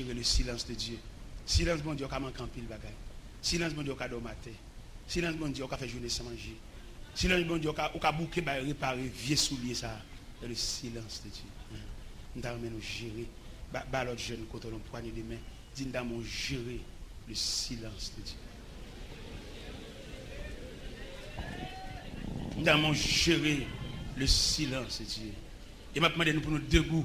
Yo rele silans de Dye. Silans Bondye yo ka manke anpil bagay. Silans Bondye yo ka dòmi atè. Silans Bondye yo ka fè jounen san manje. Silans Bondye yo ka ou ka bouke bay repare vye soulye sa a. Yo rele silans de Dye. M ta renmen nou jere. Ba ba lòt jèn kote w la yon pwanye de men. Di n damou jere le silans de Dye. M damou jere le silans de Dye. E m ap mande nou pou nou debou.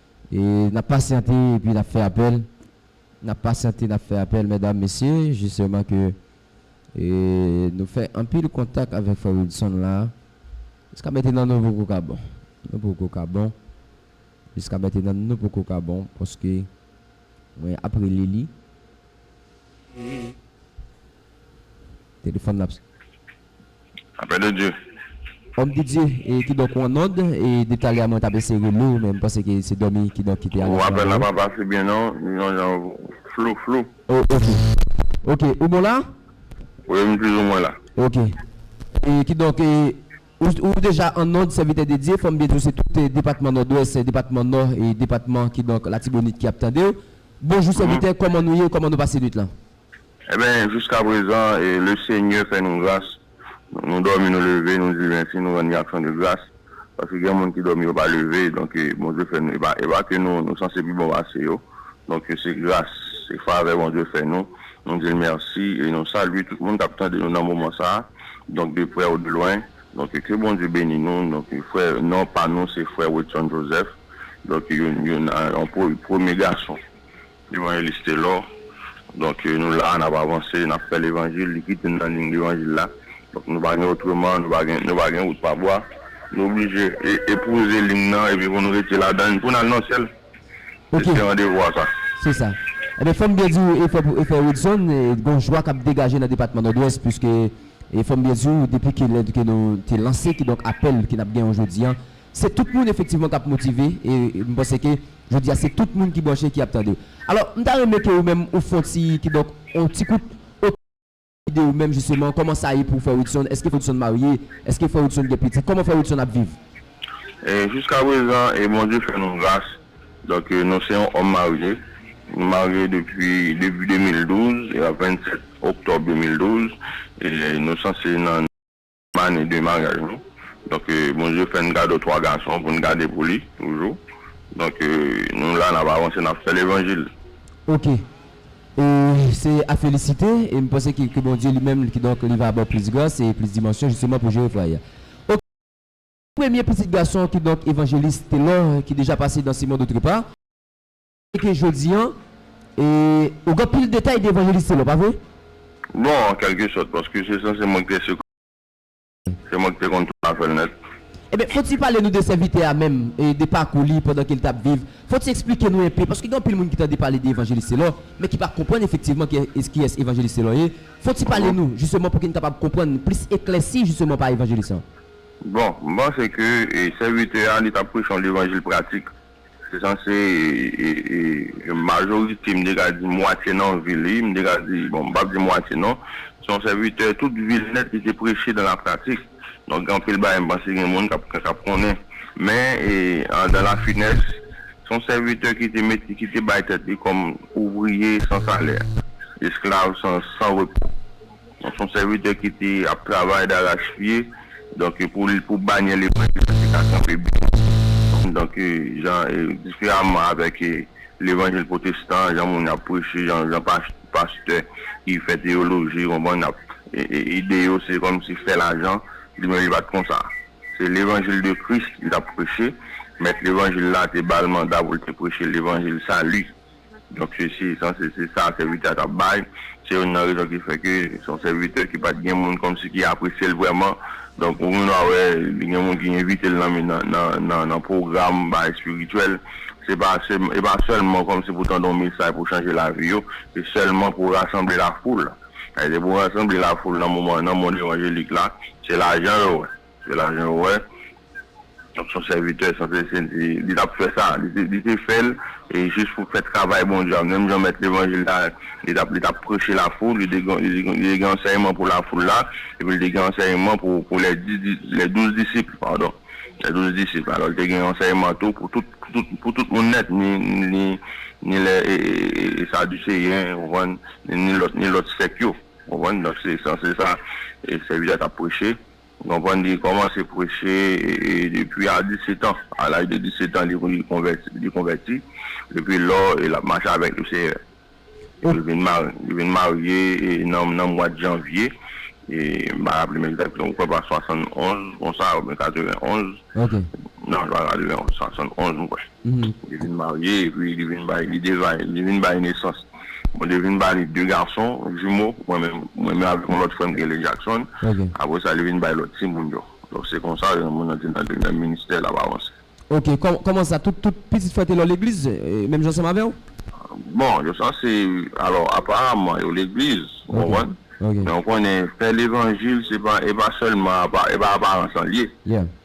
E nap pasyante epi nap fè apèl nap pasyante nap fè apèl mèdam mesye jisteman ke e nou fè anpil kontak avèk frè Wilson la jiska mètenan nou poko ka bon nou poko ka bon jiska mètenan nou poko ka bon paske mwen ap rele li telefòn l ap Apè de Dye. Homme de Dieu, e kidonk ou an nòd, e depi talè a mwen tap eseye rele w men m panse ke se dòmi kidonk ki te ale Ou apèl la pa pase byen non, li yon jan flou flou. Oh ok. Ok, ou bon la? Wi m pizoumwen la. Ok. E kidonk e ou ou deja an nòd sèvitè de Dye, fò m byen di w se tout depatman nòdwès, depatman nò e depatman kidonk latibonit ki ap tande w. Bonjou sèvitè, kòman nou ye, kòman nou pase nwit lan? Enben, jiskaprezan, Lesenyè fè nou gras. Nou dòmi, nou leve, nou di mèsi, nou rann li aksyon de gras. Paske gen moun ki dòmi, yo pa leve. Donk, Bondye fè nou. E pa ke nou, nou sanse pi bon pase yo. Donk, se gras, se favè Bondye fè nou. Nou di l mèsi e nou salye tout moun k ap tande nou nan moman sa a, donk de prè ou de lwen. Donk, ke Bondye beni nou. Donk, frè, non pa nou se frè Wedson Joseph. Donk, yon, yon premye gason. Levanjelis Telor donk nou la nap avanse nap fè levanjil li kite nou nan ligne levanjil la donk nou pa gen otreman nou pa gen nou pa gen wout pa bwa nou oblije epouze ligne nan epi pou nou rete ladann pou nou al nan syèl se se randevou a sa. Se sa. Enben fòm byen di ou efò pou efò Wilson gon jwa kap degaje nan depatman Nòdwès puiske fòm byen di ou depi ke lè ke nou te lanse kidonk apèl ke nap gen an jodi an Se tout moun efektivman kap motive e m panse ke jodi a se tout moun ki branche ki ap tande. Alò m ta renmen ke ou menm ou fon ti kidonk on ti kout oto byografi de ou menm jisteman kòman sa ye pou frè Widson, eske frè Widson marye, eske frè Widson gen pitit, kòman frè Widson ap viv? Jiskaprezan Bondye fè nou gras donk nou se yon òm marye, nou marye depi debi 2012 e a 27 oktòb 2012 e nou sanse nan. Ane de maryaj nou. Donk Bondye fè n kado 3 gason pou n gade pou li toujou. Donk nou la n ap avanse n ap fè levanjil. Ok. E se a felisite e m panse ke ke Bondye li menm kidonk li va ba w plis gras e plis dimansyon jisteman pou jere fwaye a. Ok. Premye pitit gason kidonk Evanjelis Telor ki deja pase dan Simon Doutrepa. Ke jodi an, ou gen pil detay de Evanjelis Telor, pa vre? Bon, an kèlke sòt, paske se sanse mwen ki te sekretè li, se mwen ki te konn tout afè l nèt. Enben, fòk ti pale nou de sèvitè a menm, de pakou li pandan ke li t ap viv. Fòk ti eksplike nou enpe, paske gen anpil moun ki tande pale de Evanjelis Telor, men ki pa konprann efektivman kiyès Evanjelis Telor ye. Fòk ti pale nou, jisteman, pou ke n kapab konprann, plis eklèsi jisteman pa Evanjelis an. Bon, m panse ke sèvitè a, li t ap preche yon levanjil pratik. Se sanse majorite, m te ka di mwatye nan vi li, m te ka di, bon m pap di mwatye non, se yon sèvitè tout vi l nèt li te preche dan la pratik. Donk gen anpil bagay m panse gen moun k ap konnen. Men dans la finesse, se yon sèvitè ki te mete, ki te bay tèt li kòm ouvriye san salè, esklav san repo. Donk son sèvitè ki te ap travay darach pye donk pou banyè levanjil la te ka kanpe byen donk jan diferaman avèk levanjil pwotestan jan moun ap preche jan pastè ki fè teyoloji konprann ap ide yo se kòmsi fè lajan li menm li pat konsa se levanjil de kris li tap preche mèt levanjil la te bal manda poul te preche levanjil sali Donk se se sa se se sa sèvitè a t ap bay. Se youn nan rezon ki fè ke se yon sèvitè ki pa t gen moun kòmsi ki apresye l vrèman. Donk ou vin a wè li gen moun ki envite l nan mi nan nan nan pwogram bagay espirityèl. Se pa se e pa sèlman kòmsi pou tande yon mesay pou chanje lavi yo. Se sèlman pou rasanble lafoul. Sa vle di pou rasanble lafoul nan moman nan mond evanjelik la se lajan yo wè. Se la jan ou wè son sèvitè san se se li tap fè sa li te fèl e jis pou fè travay Bondye a menm jan mèt levanjil la li tap li tap preche la foul li te gen li te gen ansèyman pou la foul la epi li te gen ansèyman pou pou lè di di lè douz disip padon lè douz disip alò li te gen ansèyman tou pou tout pou tout pou tout moun nèt ni ni ni lè e e e e saduseyen ou konprann ni lòt ni lòt sèk yo ou konprann donk se san se sa e sèvitè a tap preche. Ou konprann li kòmanse preche depi a 17 ans a laj de 17 ans li konvèti li konvèti depi lò e lap mache avèk le seyè li vin mari li vin marye nan nan mwad janvye e m pa raplem egzakteman m kwè pa 71 konsa oubyen 91 nan m pa 91 71 m kwè. Li vin marye epi li vin bay li vin bay nesans. Bondye vin ba li de gason jimo, mwen menm mwen menm avèk yon lòt frè m ki rele Jackson. Apre sa li vin bay lòt timoun yo. Donk se konsa yon moun nan te nan demen ministè l ap avanse. Ok, kòman sa tout tout pitit frè Telor legliz menm jan ansanm avè w? Bon yo sanse alò aparaman yo legliz ou konprann. Men ou konnen fè levanjil se pa e pa sèlman apa e pa aparans lan l ye.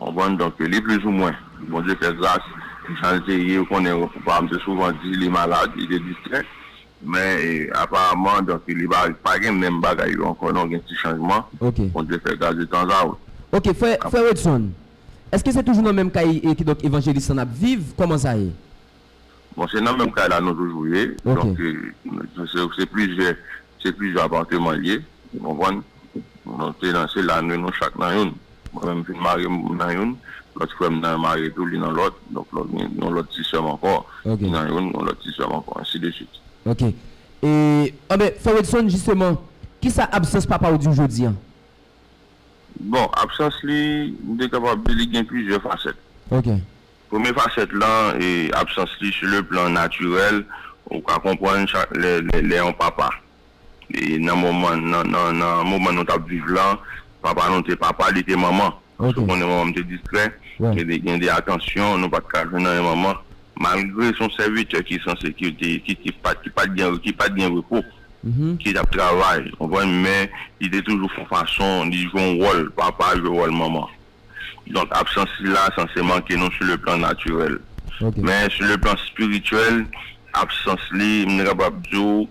Konprann? Donk, li plis ou mwen. Bondye fè gras, pou jan l te ye, ou konnen, papa m te souvan di li malad, li te distrè. Men, aparamman, donk, li pa pa gen menm bagay yo ankò non, gen ti chanjman. Ok. Bondye fè gras detanzaot. Ok, frè, frè Wedson, èske se toujou nan menm kay, kidonk, evanjelis lan n ap viv? Kòman sa ye? Bon se nan menm kay la nou toujou ye, donk se plizyè se plizyè aparteman l ye ou konprann. Nou te nan se la nou nou chak nan youn. Mwen menm m fin marye m nan youn, lòt frè m nan marye tou li nan lòt, donk lòt gen yon lòt ti sè m ankò ki nan youn, yon lòt ti sè m ankò ensi de swit. Ok e anben Frè Wedson jisteman kisa absans papa w di w jodi an? Bon absans li m te kapab di li gen plizyè fasèt. Ok. Premye fasèt lan, absans li sou le plan natirèl, ou ka konprann chak lè lè yon papa nan moman nan moman nou t ap viv lan, papa nou te papa, li te manman. Èske w konnen manman m te distrè? Gen de atansyon nou pa t ka jwenn nan men manman malgre s on sèvitè ki sanse ki te ki te pa ki pa t gen ki pa t gen repo ki t ap travay, ou konprann, men li te toujou fè yon fason li jwe yon wòl papa, jwe wòl manman. Donk absans sila sanse manke nou sou le plan natirèl. Men sou le plan espirityèl, absans li, m te kapab di w,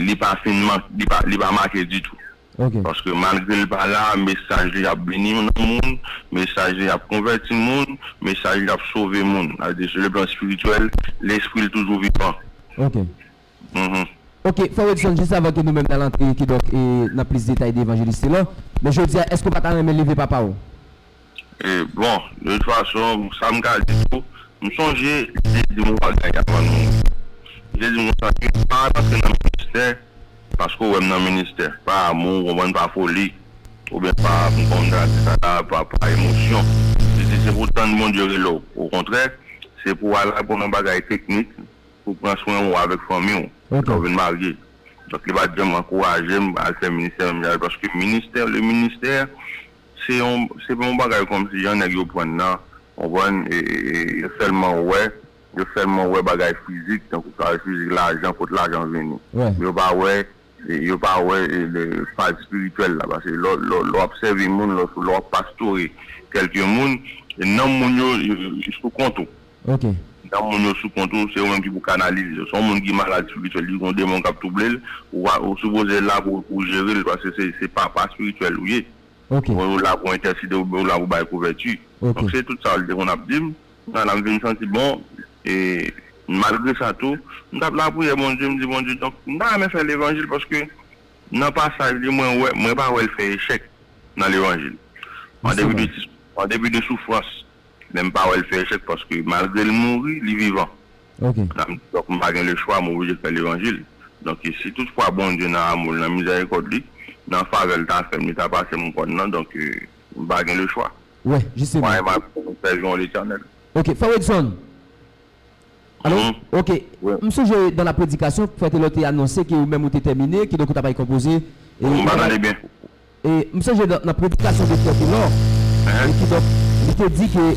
li pa fin manke, li pa make ditou. Paske malgre l pa la, mesaj li ap beni nan moun, mesaj li ap konvèti moun, mesaj li ap sove moun. Sa vle di sou le plan espirityèl, lespri l toujou vivan. Ok, Frè Wedson, jis avan ke nou menm n al antre kidonk nan plis detay de Evanjelis Telor, men jodi a, èske w pa ta renmen leve papa w? Bon, de tout fason, sa m ka di tou, m sonje li te di m yon bagay avan l mouri. Li te di m konsa ke, pa al antre nan ministè paske w wè m nan ministè, pa amou, ou konprann, pa foli, oubyen pa, m pa konn sa ki sa la, pa emosyon. Li di, se pou w tann Bondye rele w. Okontrè, se pou w al aprann yon bagay teknik. Pou pran swen ou avèk fanmi ou lè ou vin marye. Donk li pa t janm ankouraje m al fè ministè menm jan avèk paske ministè le ministè se yon se pa yon bagay kòmsi jan nèg yo pran l nan ou konprann e yo sèlman wè yo sèlman wè bagay fizik tankou sa yo wè fizik lajan kot lajan vini men yo pa wè Yo pa wè faz espirityèl la. Paske lè w ap sèvi moun, lè w ap pastore kèlke moun, nanm moun yo sou kont ou. Nanm moun yo sou kont ou, se ou menm ki pou kanalize yo. Si yon moun ki malad espirityèl, li gen yon demon k ap twouble l, ou sipoze la pou ou jere l, paske se papa espirityèl ou ye. Ou la pou entèsede, ou la pou bay kouvèti. Donk se tout sa li te konn ap di m. Ana, M vin santi bon, e malgre sa tou, m t ap lapriyè Bondye, m di Bondye, donk m ta renmen fè levanjil paske nan pasaj li mwen wè, mwen pa wè l fè echèk nan levanjil. An depi de ti, an depi de soufrans, men m pa wè l fè echèk paske malgre l mouri, li vivan. Ana, M di, donk m pa gen lechwa, m oblije fè levanjil. Donk e si tout fwa Bondye nan amou l, nan mizèrikòd li, nan favè l ta fè m, li ta pase m kòn nan, donk m pa gen lechwa. Wè, jisteman. Mwen renman jan nou fè jwon Letènèl. Ok, Frè Wedson! Alo? Ok, m sonje dan la predikasyon, Frè Telor te anonse ke ou menm ou te tèmine, kidonk ou ta bay konpoze, e ou ta bay, e m sonje nan predikasyon de Frè Telor, e kidonk li te di ke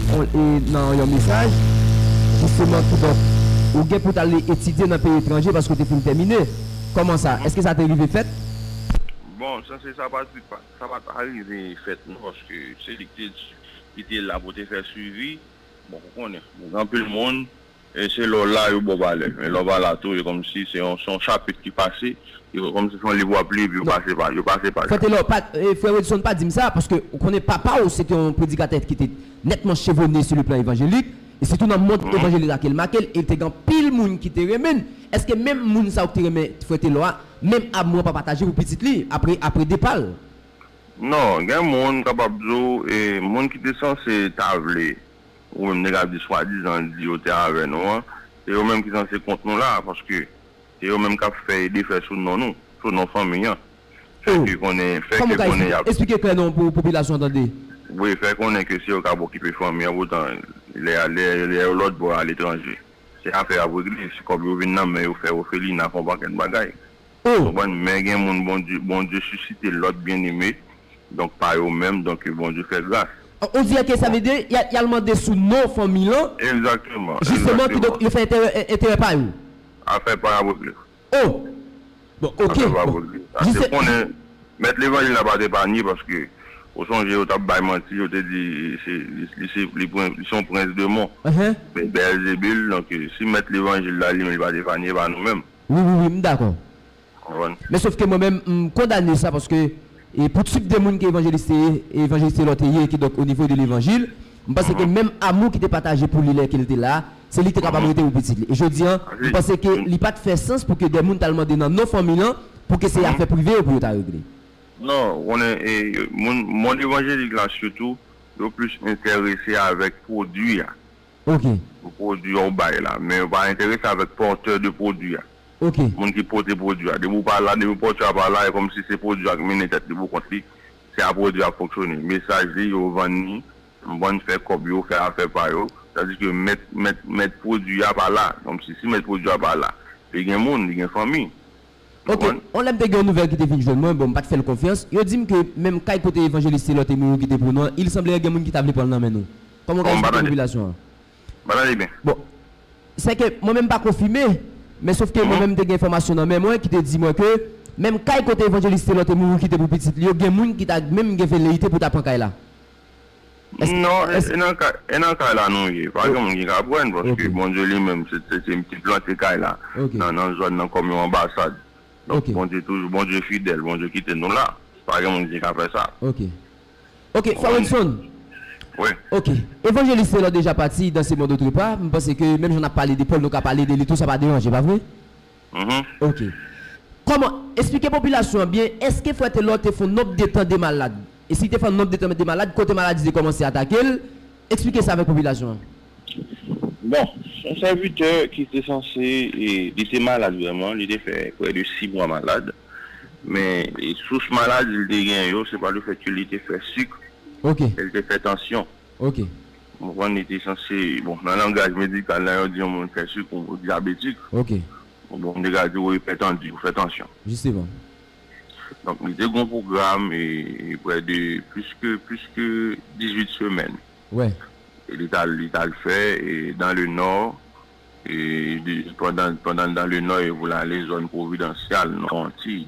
nan yon mesaj, jisteman, kidonk ou gen pou t ale etidye nan peyi etranje paske ou te fin tèmine. Kòman sa? Èske sa te rive fèt? Bon, sa se sa pa di pa. Sa pa ta rive fèt non paske se li ki te la pou te fè swivi. Bon ou konnen gen anpil moun se lè w la yo ba w valè men lè w pa la tou e kòmsi se yon chapit ki pase e kòmsi se yon liv w ap li epi yo pase pa yo. Frè Telor pa frè Wedson pa di m sa paske ou konnen papa w se te yon predikatè ki te nètman chevone sou le plan evanjelik e sitou nan mond evanjelik la ke l make l e te gen anpil moun ki te renmen l. Èske menm moun sa yo ki te renmen frè Telor a Menm abm wan pa pataje pou pitit li apre apre depal. Non, gen moun kapab di w e moun ki te sanse ta vle ou menm nèg la di swadizan l di yo te avè nou an se yo menm ki sanse kont nou la a paske se yo menm kap fè e defè sou non nou, sou non fanmi an fè ke konnen fè ke konnen yap. Esplike klè non pou popilasyon an tande. Wi fè konnen ke se yo kap okipe fanmi an poutan lè yo lòtbò aletranje. se afè a ap regle si kòb yo vin nan men yo fè ofelina fè yon pakèt bagay ou konprann men gen moun Bondye Bondye sisite lòt byeneme donk pa yo menm donk ke Bondye fè gras. On dirait que sa vle di y al mande sou non fanmi lan Exactement, exactement. Justement, kidonk yo fè enterè pa yo. Afè pa yo ap regle. Oh! Bon, ok, bon. Li se. Konnen, mèt levanjil la pa t epanye paske ou sonje yo t ap bay manti, yo te di se li se li pwen li se yon prens de mon men Beèlzebul donk si mèt levanjil la li menm li pa t epanye e pa nou menm. Wi, wi, wi, m dakò. Men sof ke mwen menm m kondane sa paske E pou tip de moun ke Evanjelis te ye, e Evanjelis Taylor te ye, kidonk o nivo de levanjil, m panse ke menm amou ki te pataje pou li lè ke l te la, se li te kapab rete pou pitit li. E jodi an, m panse ke li pa t fè sans pou ke de moun t al mande nan non fanmi lan pou ke se afè prive yo pou yo ta regle. Non, ou konnen, e moun, mond evanjelik la sitou, yo plis enterese avèk pwodui a. Ok. Pou pwodwi a ou bay la. Men yo pa enterese avèk porteur de pwodwi a. Ok. Moun ki pote pwodwi a. Depi ou pa la, depi porteur a pa la, e kòmsi se pwodwi a k mennen tèt li pou kont li, se a pwodwi a ap fonksyone. Mesaj li, yo vann li, vann fè kòb yo, fè afè pa yo. Tandis ke mèt, mèt, mèt pwodwi a pa la. Kòmsi si mèt pwodwi a pa la, li gen moun, li gen fanmi. Ok, on lè m te gen yon nouvèl ki te vin jwenn mwen, bon m pa t fè l konfyans, yo di m ke menm kay kote Evanjelis Telor te mouri ki te pou nou an, il sanbleyè gen moun ki ta vle pran l nan men nou. Kòman w ka esplike popilasyon an? Bon, sè ke mwen menm m pa konfime, men sof ke mwen menm m te gen enfòmasyon nan men mwen ki te di mwen ke menm kay kote Evanjelis Telor te mouri ki te pou pitit li yo, gen moun ki ta menm gen veleyite pou ta pran kay la. Non, e nan kay la nou ye. Pa gen moun ki ka pran, paske Bondye li menm, se li ki plante kay la, nan zòn nan kòm yon anbasad. Donk Bondye toujou, Bondye fidèl, Bondye kite nou la. Pa gen moun ki ka fè sa. Ok. Ok, Frè Wilson. Wi. Ok. Evanjelis Telor deja pati dan se mond otre pa. M panse ke menm jan n ap pale de Pòl, nou ka pale de li tou, sa pa deranje, pa vre? Ok. Kòman, esplike popilasyon an byen, èske frè Telor te fon nonb de tan de malad? E si te fè yon nonb de tan de malad, kote maladi te kòmanse atake l? Esplike sa avèk popilasyon an. Bon, yon sèvitè ki te sanse, li te malad vrèman, li te fè prè de 6 mwa malad, men sous maladi li te gen yo, se pa le fèt ke li te fè suk, e li te fè tansyon. Ok. M konprann li te sanse, bon nan langaj medikal la yo di yon moun fè sik ou dyabetik. Ok. Bon m te ka di ou ipètandi, ou fè tansyon. Jisteman. Donk li te gen yon pwogram e prè de plis ke plis ke 18 semèn. Wè. Li t al li t al fè e dan le nò e pandan pandan l dan le nò e pou l ale zòn pwovidansyal non antiy.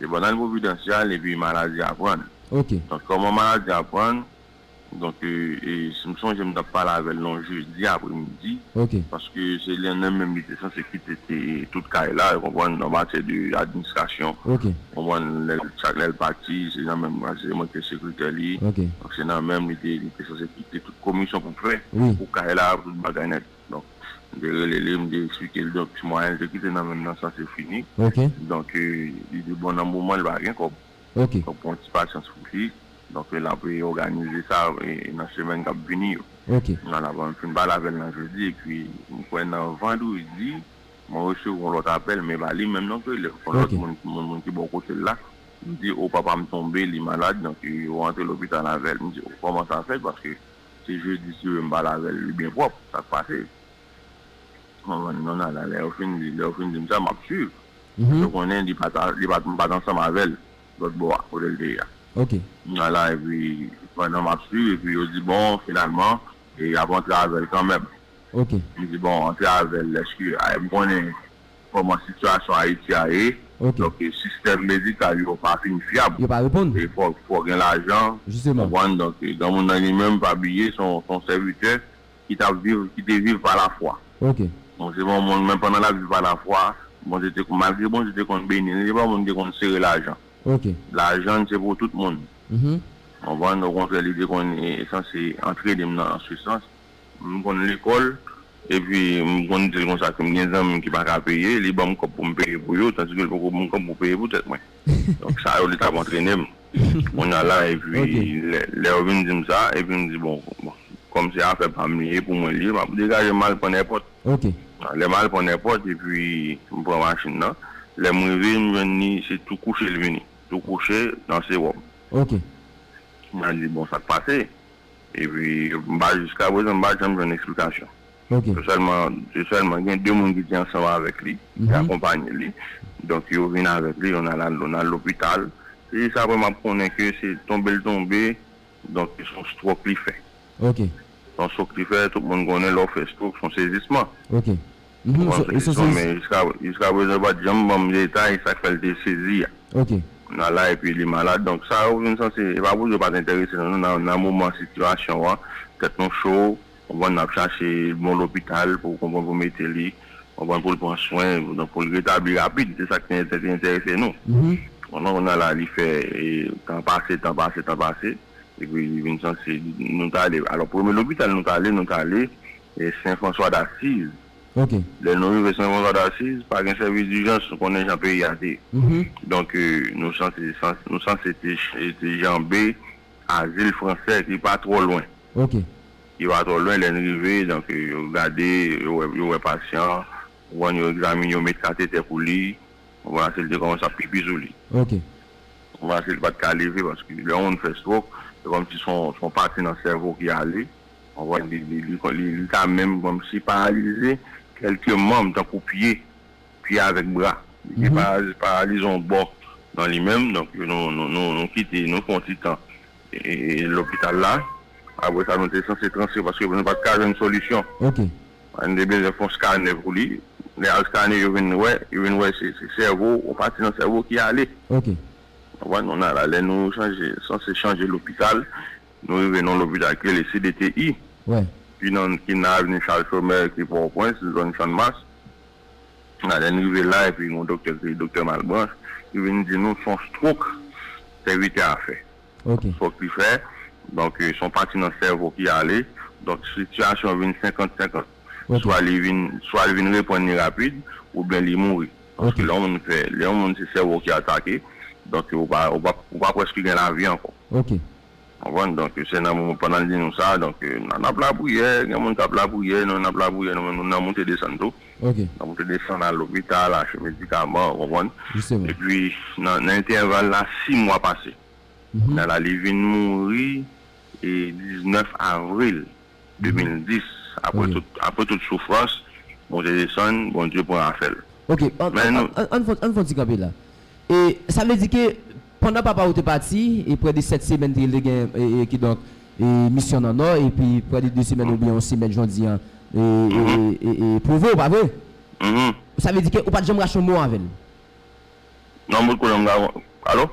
Se pandan li pwovidansyal epi maladi a pran l. Ok. Donk kòman maladi a pran l, donk e si m sonje m t ap pale avè l yon jedi apremidi. Ok. Paske se lè nan menm li te sanse kite te tout kay la, ou konprann, an matyè de administrasyon. Ok. Ou konprann, lè l chak lè l pati, se nan menm paske se mwen ki te sekretè li. Ok. Donk se nan menm li te li te sanse kite tout komisyon pou fè. Wi. Pou kay la, pou tout bagay nèt. Donk, m te rele li, m te eksplike li. Donk, ti mwayen li te kite nan men m nan sa se fini. Donk, li te bon nan moman li pa gen kòb. Donk, pran ti pasyans pou li. Donk, l ap òganize sa nan semèn k ap vini yo. Nan la banm fin pale avè l nan jedi epi m kwè nan vandredi mwen resevwa yon lòt apèl men e pa li menm non ki rele m. Son lòt moun, yon moun ki bò kote l la. Li di, o papa m tonbe, li malad. Donk, yo rantre lopital avè l. M di, o kòman sa fèt paske Se jeudi sirène pale avèl li byen pwòp sak pase konprann non nana lè yo fin di lè yo fin dim sa map swiv paske ou konnen li pat li pat m pat ansanm avèl lòt bò a kotel te ye a m nan la epi pandan map swiv epi yo di bon finalman yap antre avèl kanmèm m di bon antre avèl eske m konnen. kòman sitiyasyon Ayiti a ye. Ok. Donk sistèm medikal yo pa fin fyab. Yo pa reponn. E fò fò gen lajan. Jisteman. Ou konprann? Donk granmoun nan li menm pa bliye se yon se yon sèvitè ki t ap viv ki te viv pa lafwa. Ok. Donk se pa yon moun men pandan l ap viv pa lafwa Bondye te malgre Bondye te konn beni li se pa yon moun ki te konn sere lajan. Ok. Lajan se pou tout moun. Ou konprann? Okontrè li te konn sanse antrene m nan sou sans. M konn lekòl, epi m konn di l konsa si m gen zanmi m ki pa ka peye, li ban m kòb pou m peye pou yo, tandiske l poko ban m kòb pou peye pou tèt mwen. Donk sa yo li t ap antrene m. Kounye a la, epi lè yo vin di m sa, epi m di bon, kòm se afè pa m li ye, pou mwen li ye, m ap degaje m al pran èpòt. Lè m al pran èpòt, epi m pran machin nan, lè m rive m jwenn li se tou kouche l vini, tou kouche nan sewòm. M di bon sa k pase? Epi m pa jiska prezan m pa janm jwenn eksplikasyon. Se sèlman se sèlman gen 2 moun ki te ansanm avèk li, ki akonpanye li. Donk yo vin avèk li, yon al yon al lopital. Se jis aprè m ap konnen ke se tonbe l tonbe, donk se yon stròk li fè. Se yon stròk li fè, tout moun konnen lè w fè stròk se yon sezisman. Ou konprann sa ki sou an men jiska prezan yo pat janm banm detay sak fè l te sezi a nan la epi li malad donk sa yo vin sanse e pa pou di yo pat enterese nan nou nan moman sitiyasyon an tèt nou cho ou konprann nap chache bon lopital pou konprann pou mete li konprann pou l pran swen donk pou l retabli rapid se sak te enterese nou konprann kounye a la li fè tan pase tan pase tan pase. epi li vin sanse nou t ale alò premye lopital nou t ale nou t ale sen François d'Assise ok lè nou rive sen François d'Assise pa gen sèvis dijans ou konnen jan peyi a te donk nou sanse nou sanse te janbe azil fransè ki pa twò lwen ok ki pa twò lwen lè n rive donk yo gade yo wè yo wè pasyan an ou konn yo egzamine yo met katetè pou li. Ou kòmanse li te kòmanse ap pipi sou li. Ok. Ou kòmanse li pat ka leve paske lè yon moun fè stroke se kòmsi son son pati nan sèvo ki ale ou konprann li li li li ka menm kòmsi paralize kèlke manm tankou pye pye avèk bra li te pa paralize yon bò nan li menm donk nou nou nou nou kite nou fè yon ti tan e lopital la apre sa nou te sanse transfere paske nou pat ka jwenn solisyon. Ok. An te bezwen fon scanner pou li. Lè yal scanner yo vin wè, yo vin wè se sèvo, yon pati nan sèvo ki ale. Ok. Konprann? Nou nan la. Lè nou chanje, sanse chanje lopital, nou rive nan yon lopital ki rele CDTI. Wè. Ki nan, ki nan avenue Charles Chomel ki Pòtoprens, zòn Channmas. Nan lè n rive la epi yon doktè ki rele doktè Malbranche ki vin di nou son stroke sèvitè a fè. ok. Fok li fè, donk son pati nan sèvo ki ale, donk sitiyasyon an vin 50 50, swa li vin swa li vin reprann li rapid oubyen li mouri, paske lè yon moun fè lè yon moun se sèvo ki atake, donk ou pa ou pa ou pa preske gen lavi ankò. Ok. Konprann, donk se nan moman pandan l di nou sa, donk nap lapriyè, gen moun kap lapriyè, nou nap lapriyè nou menm nou nan moute desann tou. Ok. Nan pou te desann al lopital achte medikaman ou konprann. Jisteman. Epi nan entèval la 6 mwa pase. Kounya la li vin mouri 19 avril 2010 aprè tout aprè tout soufrans monte desann Bondye pran afèl. Ok an an an an fon an fon ti kanpe la e sa vle di ke Pandan papa ou te pati, e prè de sèt semèn te te gen, e, kidonk, e, misyon nan Nò, epi prè de de semèn oubyen yon semèn jodi an, e, e, e, e, pwouve ou, pa vre? Sa vle di ke ou pa t janm rache yon mo avè l? Non, m pot konnen, m ta kon. Alo?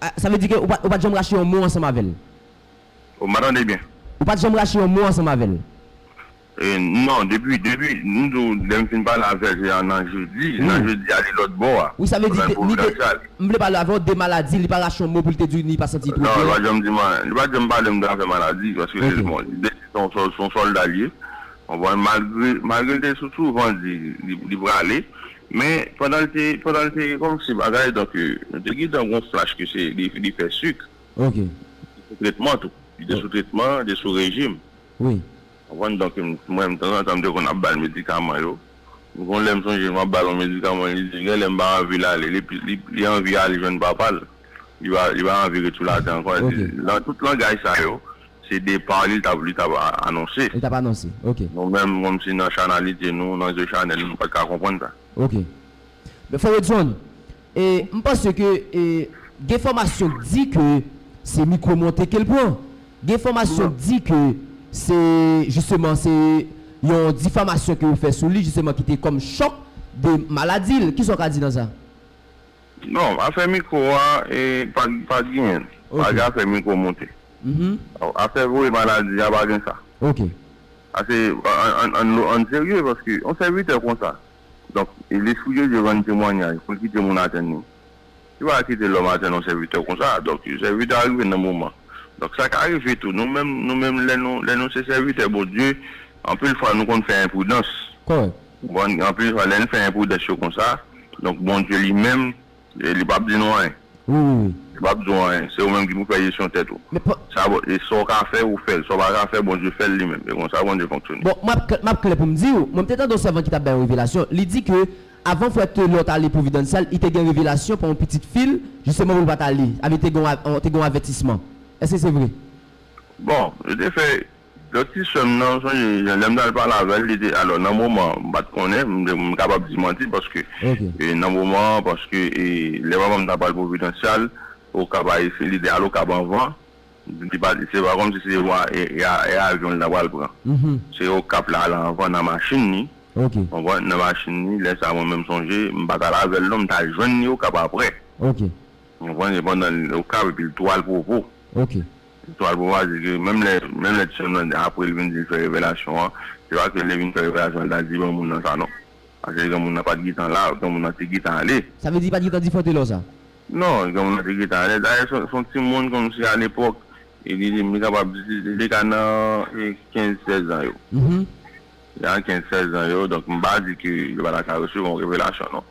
A, sa vle di ke ou pa, ou pa t janm rache yon mo ansanm avè l? O, m pa tande byen. Ou pa t janm rache yon mo ansanm avè l? Non depi depi m di w lè m fin pale avèl se nan jedi nan jedi a li lòt bò a Wi sa vle di li te li te m vle pale avè w de maladi li pa rache yon mo pou li te di w li pa santi l twò byen. Non li pa janm di m li pa janm pale m de afè maladi paske li bon li te di son se yon sòlda l ye konprann malgre malgre l te sou souvan di li prale men pandan l te pandan l te kòm si bagay donk nou te gen tan gon flach ke se li fè suk li te sou tretman tou li te sou tretman li te sou rejim. wi. Ou konprann donk mwen tanzantan m te konn ap ba l medikaman yo. Gon lè m sonje m ap ba l yon medikaman li di gen lè m pa anvi l ale li anvi ale jwenn papa l li pa anvi ret sou latè ankò li di nan tout langaj sa yo se depa li li t ap anonse li t ap anonse ok nou menm kòmsi nan chanalite nou nan zye chanèl nou pa t ka konprann sa ok Men frè Rodson, e m panse ke e gen enfòmasyon k di ke se mikwo monte ke l pran. Gen enfòmasyon k di ke se jisteman se yon difamasyon ke yo fè sou li jisteman ki te kòm chòk de maladi l. Kisa w ka di nan sa? Non, afè mikwo a e pa pa gen. Pa gen afè mikwo monte. Afè voye maladi a pa gen sa. Pase an an an n serye paske yon sèvitè konsa. Donk, Lespri Bondye rann temwanyaj pou l kite moun atenn ni. Li pa ka kite lòm atenn yon sèvitè konsa. Donk, sèvitè a rive nan moman. Donk, sa ka rive tou nou menm, nou menm lè nou, lè nou se sèvitè Bondye, anpil fwa nou konn fè enpridans. Kòrèk. Ou konprann? Anpil fwa lè n fè enpridans yo konsa, donk Bondye li menm E li pap di nou anyen. Wi wi wi. Li pap di w anyen. Se ou menm ki pou fè jesyon tèt ou. Men pa. Sa bon, e sa w ka fè, ou fè l. Sa w pa ka fè, Bondye fè l li menm. E konsa Bondye fonksyone. Bon, map kl, map klè pou m di w, mwen m te tande yon sèvant ki tap bay yon revelasyon. Li di ke avan frè Telor t ale Providencial, li te gen revelasyon pou yon pitit fi l, jisteman pou l pa t ale. Sa vle di te gen yon, te gen yon avètisman. Eske se vre? Bon, yo te fè. Lòt ti sè m nan, m sonje lè m t al pale avè l, li te, alò nan moman an, m pa t konnen, m kapab di manti paske nan moman an, paske lè papa m t ap al Providencial, Okap a ese, li te al Okap anvan, li pa t, se pa kòmsi se yon avyon li t apral pran. Se Okap l al anvan nan machin li, ou konprann, nan machin li, lè sa a mwen menm m sonje, m pa t al avè l non, m t al jwenn li Okap aprè, ou konprann, se pandan l Okap epi l tou al Provo. Zetwal pou mwa di ke menm lè menm lè ti sèm nan apre li vin di li fè revelasyon an se pa ke lè vin fè revelasyon an li ta di granmoun nan sa non paske granmoun nan pat gentan la granmoun nan te gentan ale. Sa vle di li pat gentan di fante lò sa? Non granmoun nan te gentan ale dayè son son timoun kòmsi alepòk e li li kapab li te ka nan 15 16 zan yo nan 15 16 zan yo donk m pa di ke li pa ta ka resevwa yon revelasyon non.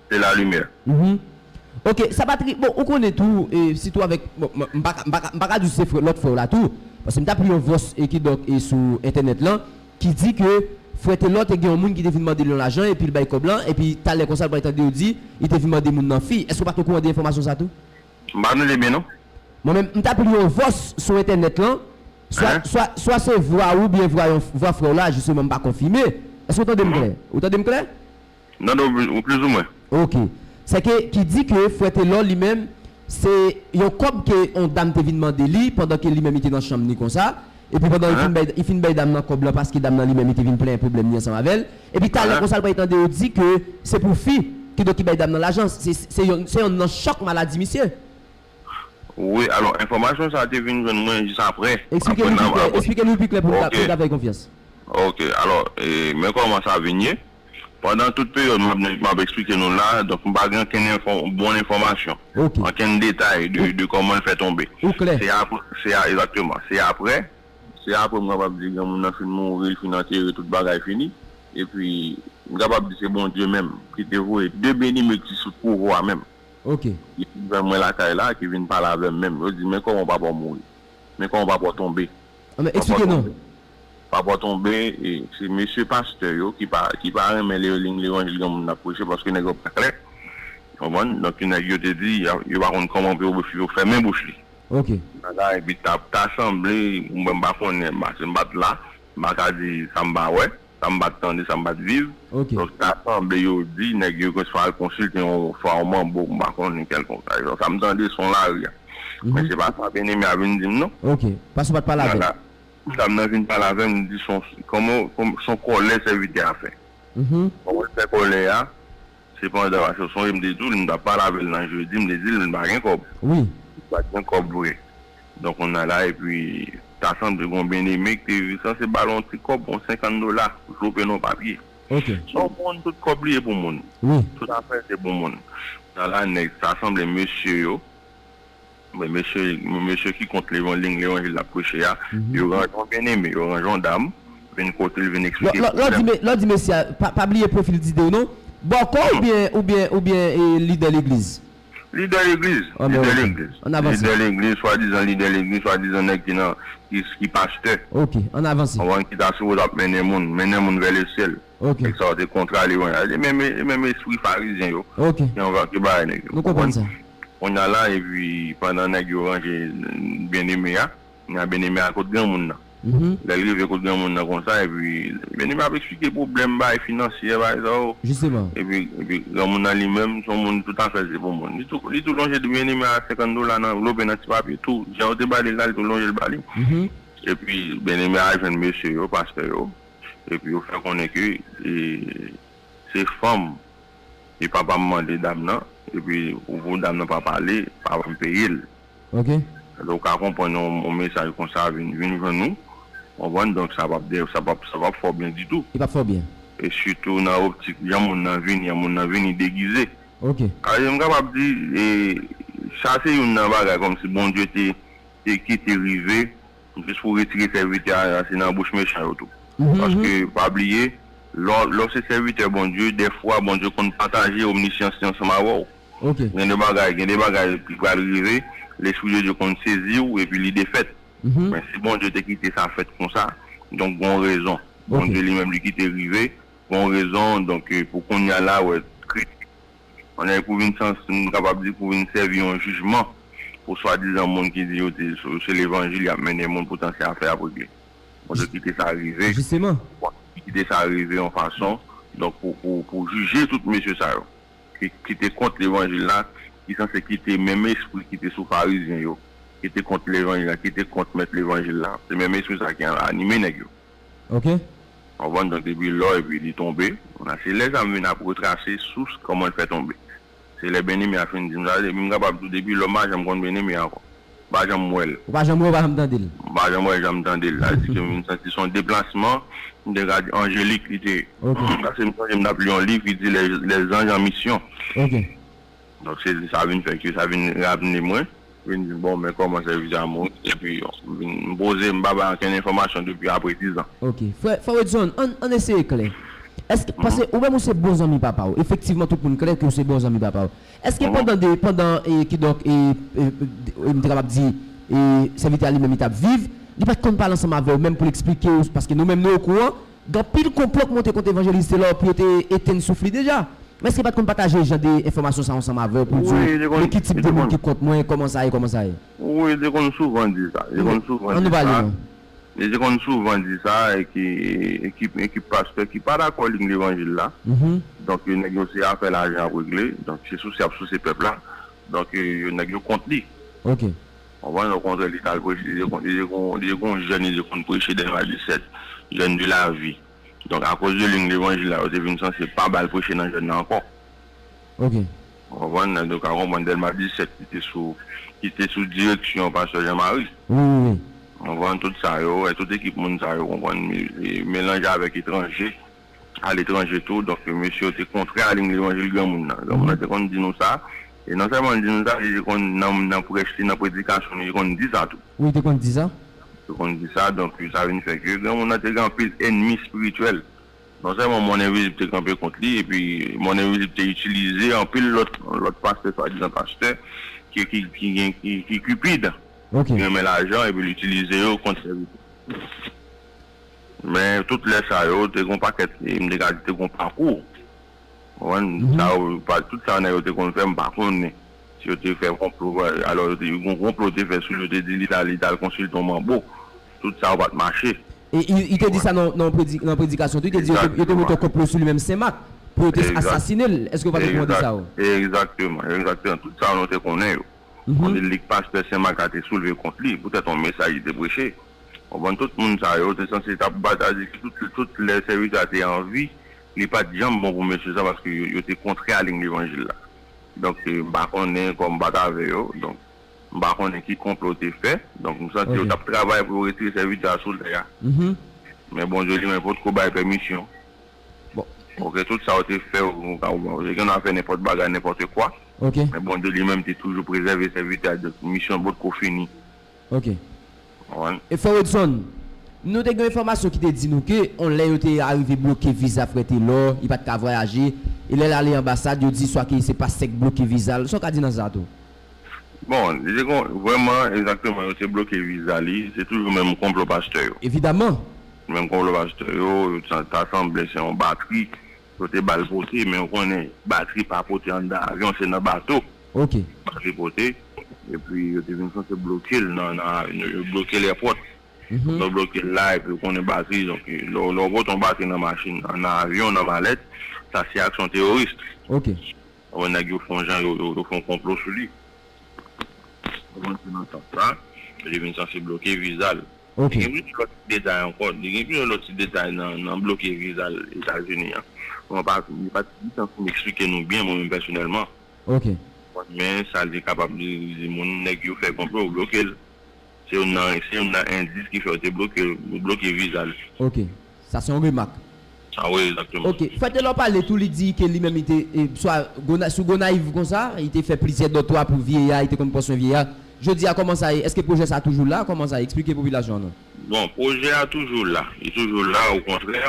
de la lumière. Mph ok sa pa tris bon ou konnen tou e sitou avèk bon m paka m paka m paka di se frè lòt frè w la tou paske m tap li yon vòs e kidonk e sou entènèt lan ki di ke frè telor te gen yon moun ki te vin mande l yon lajan epi l bay kòb lan epi talè konsa l pral tande yo di li te vin mande moun nan fi èske w pat okouran de enfòmasyon sa tou? M pa tande byen non. Mwen menm m tap li yon vòs sou entènèt lan swa swa swa se vwa ou byen vwa yon vwa frè w la jisteman m pa konfime èske w tande m klè ou tande m klè? Non non wi plus ou mwen. Ok. Sè ke ki di ke frè Telor li menm se yon kòb ke yon dam te vin mande li pandan ke li menm li te nan chanm li konsa epi pandan li fin bay li fin bay dam nan kòb lan paske dam nan li menm li te vin plenyen pwoblèm li ansanm avèl epi talè konsa li pral tande yo di ke se pou fi ki donk ki bay dam nan lajan se se yon se yonn nan chòk maladi misye. Wi alò enfòmasyon sa te vin jwenn mwen jis aprè Eksplike nou pi klè Eksplike nou pi klè pou nou ta pou nou ta fè l konfyans. Ok alò men kòman sa vin ye. Pandan tout peryòd m ap eksplike nou la, donk m pa gen ankenn bon enfòmasyon, ankenn detay de kòman l fè tonbe. Ou klè? Se apre, se a, egzakteman. Se apre, se apre m kapab di granmoun nan fin mouri, l fin antere, tout bagay fini. Epi, m kapab di se Bondye menm ki te voye de beny m ekri sou twouvo a menm. Ok. Ki vin jwenn mwen lakay la, ki vin pale avè m menm. Yo di, men kòman papa w mouri? Men kòman papa w tonbe? Anben, eksplike non. Papa tonbe se mesye pastè yo ki pa ki pa renmen levanjil granmoun nan ap preche paske nèg yo pa klè ou konprann donk nèg yo te di yo pa konn kòman pou yo fèmen bouch li bagay bi ta ta sanble mwen m pa konnen paske m pat la m pa ka di sa m pa wè sa m pat tande sa m pat viv donk ta sanble yo di nèg yo gen swa al konsilte yon fwa yon manbo m pa konnen kèlkonk sa yo sa m tande son lari a men se pa sa Bien Aimé a vin di m non ok paske w pat pale avè l Kou sa mwen vin pale avèl mwen di son son kòlè sèvitè a fè Bon mwen fè kòlè a se pandan paske ou sonje mte diw li mtap pale avèl nan jedi mte dil mwen pa gen kòb li pat gen kòb vre donk kounya la epi ta sanble gon byeneme kte viv isan se bal yon ti kòb yon 50 dola pou chope nan papye son moun tout kòb li e pou moun tout afèl se pou moun kounya la nèg ta sanble mesye yo. Men mesye, men mesye ki kont levanling, levanjil l ap preche a, yo ranje yon byeneme, yo ranje yon dam, vin kote l, vin eksplike pwoblèm. Lò, lò w di mesye a, pa, pa bliye pwofil Didé w non. Bòkò oubyen, oubyen, oubyen e lidè legliz? Lidè legliz, lidè legliz. An avanse. Lidè legliz, swadizan lidè legliz, swadizan nèg ki nan, ki, ki pastè. Ok, an avanse. Ou konprann, ki ta sipoze ap mennen moun, mennen moun vè lesyèl. Ok. Nèg sa yo te kontra li konya. Se menm e menm espri farizyen yo Ok. ki anva ki bay nèg yo. Nou konprann sa. Konya la epi pandan nèg yo ranje Byeneme a, konya Byeneme a kot granmoun nan. Lè l rive kot granmoun nan konsa epi Byeneme ap esplike pwoblèm bagay finansyè bagay sa yo. Jisteman. Epi epi granmoun nan li menm son moun tout afè l se pou moun. Li tou li tou lonje di Byeneme a 50 dola nan anvlope nan ti papye tou jan yo te ba li l la li tou lonje l ba li. Epi Byeneme a al jwenn mesye yo, pastè yo. epi yo fè konnen ke se fanm e papa m mande dam nan epi pou dam nan pa pale papa m peye l. Ok. Donk ou ka konprann yon mesaj konsa vin vin jwenn nou, ou konprann, donk sa pap de sa pap sa pap fò byen ditou. Li pap fò byen. E sitou nan optik jan moun nan vini an, moun nan vini degize. Ok. Alò m kapab di sa se youn nan bagay kòmsi Bondye te te kite rive. Jis pou retire sèvitè a se nan bouch mechan yo tou. Paske pa bliye lè w se sèvitè Bondye dèfwa Bondye konn pataje omnisyans li ansanm avè w. Gen de bagay gen de bagay ki pral rive lespri de Dye konn sezi w epi li defèt. Men si Bondye te kite sa fèt konsa donk gon rezon. Bondye li menm li kite rive gon rezon donk pou kounya la wè kri. On nèg pou vin sans m kapab di pou vin sèvi yon jijman pou swadizan moun ki di yo di se levanjil y ap mennen moun poutan se afè y ap regle. Bon Dye kite sa rive. Kite sa rive yon fason donk pou pou jije tout mesye sa yo ki te kont levanjil la ki sanse kite menm espri ki te sou farizyen yo ki te kont levanjil la ki te kont mèt levanjil la se menm espri sa ki anime nèg yo. ok. Konprann donk depi lò epi li tonbe la se lè sa m vin ap retrase sous kòman l fè tonbe se lè Benemy a fin di m sa epi m kapab di w depi lò m pa janm konn Benemy ankò m pa janm wè l. Ou pa janm wè ou pa janm tande l. M pa janm wè janm tande l sa vle di ke m vin santi son deplasman m te ka di anjelik li te ye paske m sonje m t ap li yon liv ki di les anges en mission Donk se di sa vin fè ke sa vin ramne mwen. Vin di m bon men kòman sèvis a moun epi m vin m poze m pa bay ankenn enfòmasyon depi apre dizan. Ok. Frè frè Wedson, ann ann eseye klè. Èske paske ou menm ou se bon zanmi papa w. Efektivman tout moun klè ke w se bon zanmi papa w. Èske pandan de pandan e kidonk e e m te kapab di e sèvitè a li menm li t ap viv, li pa t konn pale ansanm avè w menm pou l esplike w paske nou menm nou okouran Gen anpil konplo k monte kont Evanjelis Telor pou yo te etenn souf li deja. Men èske li pa t konn pataje jan de enfòmasyon sa ansanm avè w pou l di w, Men ki tip de moun ki kont mwen, kòman sa ye, kòman sa ye? Wi, li te konn souvan di sa. Li te konn souvan di sa. Li te konn souvan di sa e ki e ki pastè ki pa dakò liy levanjil la. Donk nèg yo se afè lajan y ap regle. Donk se souse y ap souse pèp la. Donk yo nèg yo kont li. Konprann okontrè li tal preche li te li te gon jèn li te konn preche dèyè ma di sèt jèn de la vi donk akoz de li levanjil la yo te vin sanse pa bal preche nan jèn nan ankò ou konprann nan donk a konprann dèyè ma di sèt li te sou li te sou direksyon pastè Jean Marie ou konprann tout sa yo tout ekip moun sa yo konprann melanj avèk etranje aletranje tou. Donk, mesye yo te kontre a liy levanjil granmoun nan. Granmoun nan te konn di nou sa. E nonsèlman l di nou sa, li te konn nan prèch li, nan predikasyon li, li te konn di sa tou. Wi, li te konn di sa. Li te konn di sa. Donk, sa vin fè ke granmoun nan te gen anpil ènmi espirityèl. Nonsèlman monn envizib te kanpe kont li, epi monn envizib te itilize anpil lòt lòt pastè, swadizan pastè, ki gen ki kipid, ki renmen lajan, epi l itilize yo kont sèvitè. Men tout lè sa yo te gon pakèt m te ka di te gon pakou ou konprann sa yo tout sa nèg yo te konn fè m pa konnen si yo te fè konplo alò yo te gen yon konplo yo te fè sou li yo te di li ta li tal konsilte yon manbo tout sa yo pat mache Li te di sa nan yon predikasyon tou li te di yo te mete yon konplo sou li menm Senmak pou yo te asasine l èske ou pa te konprann de sa yo Egzakteman egzakteman tout sa nou te konnen yo. kote l di k pastè Sen Mak la te soulve kont li poutèt yon mesaj li te preche. Konprann tout moun sa yo te sanse t ap bat atik yo tout lè sèvis la te an vi. Li pa t janm bon pou mesye sa paske yo te kontrè a liy levanjil la. Donk m pa konnen kòm m pa t avè yo donk m pa konnen ki konplo yo te fè donk m santi yo t ap travay pou yo retire sèvitè a sou tè a men Bondye li menm potko bay pèmisyon Bon. Ok tout sa ou te fè ou ou ka wè gen nan fè nenpòt bagay nenpòte kwa ok men Bondye li menm te toujou prezève sèvitè a dòk misyon pot ko fini ok konprann. E frè Wedson, nou te gen yon enfòmasyon ki te di nou ke yon lè yo te arive bloke viza frè Telor, li pat ka vwayaje, e lè l ale anbasad yo di swa ke se pastè k bloke viza l, sa w ka di nan sa tou? Bon, li te kon, vrèman, egzakteman, yo te bloke viza li, se toujou menm konplo pastè yo. Evidaman. Menm konplo pastè yo, yo t, ta sanble se yon batri yo te ba l pote, men ou konnen batri pa pote anndan avyon, se nan bato. Ok. Batri pote, epi yo te vin sanse bloke l nan, nan a, yo bloke l èpòt. Apre yo bloke l la, epi ou konnen batri, donk lè w, lè w pote yon batri nan machin, nan avyon, nan malèt, sa se aksyon teworis. Ok. Bon nèg yo fon jan yo fon konplo sou li. Ou konn se nan sans sa li vin sanse bloke viza l. Ok. Gen plizyè lòt ti detay ankò. Gen plizyè lòt ti detay nan bloke viza l Etazini an. Mwen pa li pa gen tan pou m eksplike nou byen mwen menm pèsonèlman. Ok. Men sa li kapab di li di moun nèg yo fè konplo yo bloke l. Se youn nan se youn nan endis ki fè yo te bloke l yo bloke viza l. Ok. Sa se yon remak. Ah oui exactement. Ok. Frè Telor pale tou li di ke li menm li te swa Gona sou Gonayiv konsa, li te fè plizyè dòtwa pou vyeya, li te konn pran swen vyeya. Jodi a kòman sa ye? Eske pwojè sa toujou la? Kòman sa ye? Eksplike popilasyon an non. Bon, pwojè a toujou la. Li toujou la o kontrè.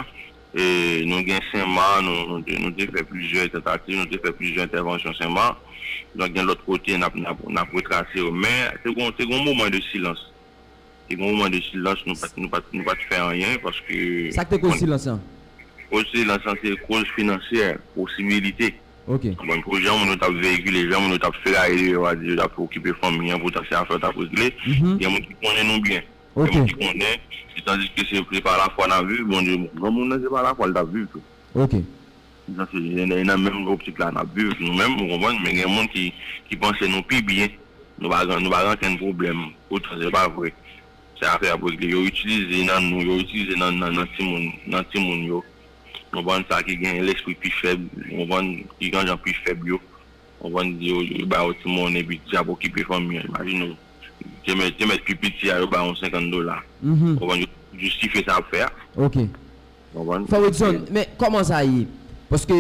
E nou gen Senma, nou te nou te fè plizyè tantativ, nou te fè plizyè entèvansyon Senma. Donk gen lòt kote n ap n ap retrase yo. Men te gon te gon moman de silans. Te gen yon moman de silans, nou pa t fè anyen paske. Sa k te koz silans lan? Koz silans lan se koz finansyè, posibilite. Ok. Konprann? Pou jan moun yo t ap veyikile, jan moun yo t ap feraye deyò yo a di yo t ap okipe fanmi an, poutèt se afè yo t ap regle, gen moun ki konnen nou byen. Ok. Gen moun ki konnen, tandiske se pa lafwa n ap viv, Bondye, granmoun nan se pa lafwa l t ap viv tou. Ok. Sa se nan menm optik la nap viv nou menm ou konprann men gen moun ki panse nou pi byen nou pa gen nou pa gen ankenn pwoblèm poutan se pa vre se afè ap regle yo itilize nan nou yo itilize nan nan timoun nan timoun yo ou konprann sa ki gen lespri pi fèb ou konprann ki gen jan pi fèb yo ou konprann yo ba yo ti monnen epi di ap okipe fanmi an imajine ou te mèt te mèt pi piti a yo ba yon 50 dola ou konprann yo jistifye sa yap fè a. Konprann? Frè Wedson, men kòman sa ye? Paske,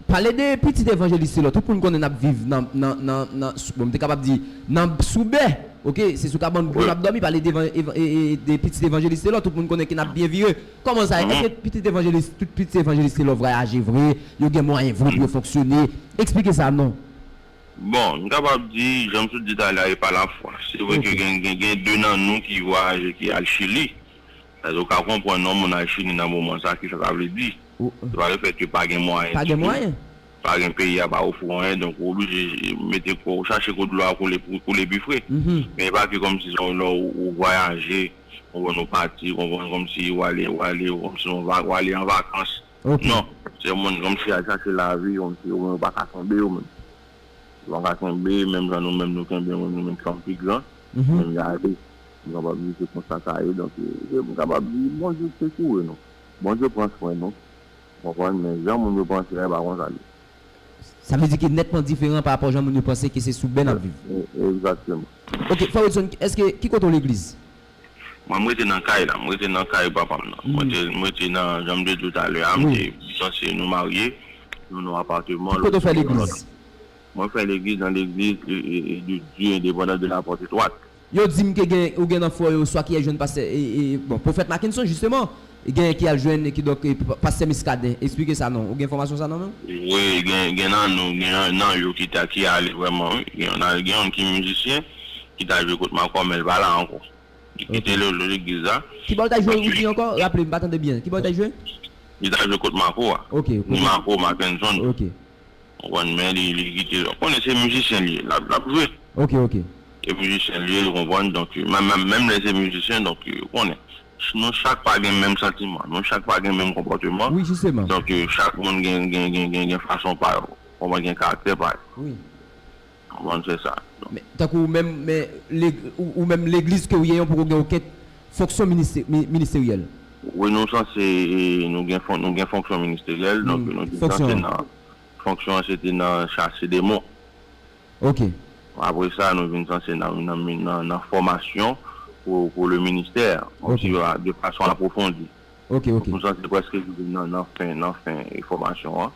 pale de pitit evanjelis se lò. Tout moun konnen n ap viv nan, nan, nan, nan, bon m te kapab di, nan, sou bè. Ok, se sou kabann bri n ap dòmi, pale de evan, evan, e, e, de pitit evanjelis se lò, tout moun konnen ke n ap byen vire. Kòman sa ye? Èske pitit evanjelis, tout pitit evanjelis se lò vwayaje vre? Yo gen mwayen vre pou yo fonksyone? Eksplike sa non. Bon, m kapab di, jan m sot di talè a, e pa lafwa. Se vre ke gen, gen, gen de nan nou ki vwayaje, ki al Chili. Èske ou ka konprann non moun al chini nan moman sa kisa sa vle di? Se pa le fèt ke pa gen mwayen di tou, pa gen peyi a pa ofri ou anyen donk ou oblije mete kò ou chache kote dlo a koule pou koule pi fre. Men e pa ke kòm si se yon lè ou vwayaje ou konprann ou pati ou konprann kòm si ou ale ou ale kòm si ou ale an vakans non se yon moun kòm si al chache lavi kòm si ou menm ou pa ka tonbe ou menm. Lwa ka kenbe menm jan nou menm nou kenbe moun nou menm fanm pi gran menm jan ale m kapab di se konsa sa ye donk m kapab di Bondye sekoure nou Bondye pran swen nou ou konprann men jan moun yo panse a e pa konsa l ye. Sa vle di ke nètman diferan pa rapò jan moun yo panse ke se sou bè n ap viv. Egzakteman. Ok frè Wilson eske ki kote w legliz? Mwen m rete nan kay la, m rete nan kay papa m nan. Mwen te, m rete nan, jan m te di w talè a, m te sanse nou marye nan yon apateman. Ki kote w fè legliz? Mwen fè legliz nan legliz de Dye endepandan de la pòt etwat. Yo di m ke gen, ou gen nan fò yo swa ki al jwenn pastè, bon, pwofèt Makenson jisteman, Genyen ki al jwenn kidonk pastè Muscadin esplike sa non ou gen enfòmasyon sa nan menw? Wi gen nan nou gen nan yo ki ta ki ale vrèman wi gen yon al gen yon ki mizisyen ki ta jwe kot makòmè men li pa la ankò li kite lè lè legliz la Kibow ta jwe ou di ankò raplem m pa tande byen kibow ta jwe? Li ta jwe kot mako a ni mako Mackenson. Ou konn men li li kite ou konnen se mizisyen li ye lap lap jwe. Ok ok. Se mizisyen li ye ou konprann donk menm menm lè se mizisyen donk ou konnen nou chak pa gen menm santiman nou chak pa gen menm konpòteman Wi jisteman. donk chak moun gen gen gen gen gen fason pa yo ou konprann gen karaktè pa yo. Wi. Ou konn fè sa non. Men, tankou ou menm, men, lèg, ou menm legliz ke ou ye an poko gen okenk fonksyon ministe, mi, ministeryèl. Wi nou sanse, e, nou gen fon, nou gen fonksyon ministeryèl, donk nou te sanse nan, fonksyon an se te nan chase demon. Ok. Apre sa nou vin sanse nan, nan mi, nan, nan fòmasyon pou, pou le ministè, konm si, a, de fason apwofondi. Ok, ok. Nou sanse prèske rive nan, nan fen, nan fen fòmasyon an.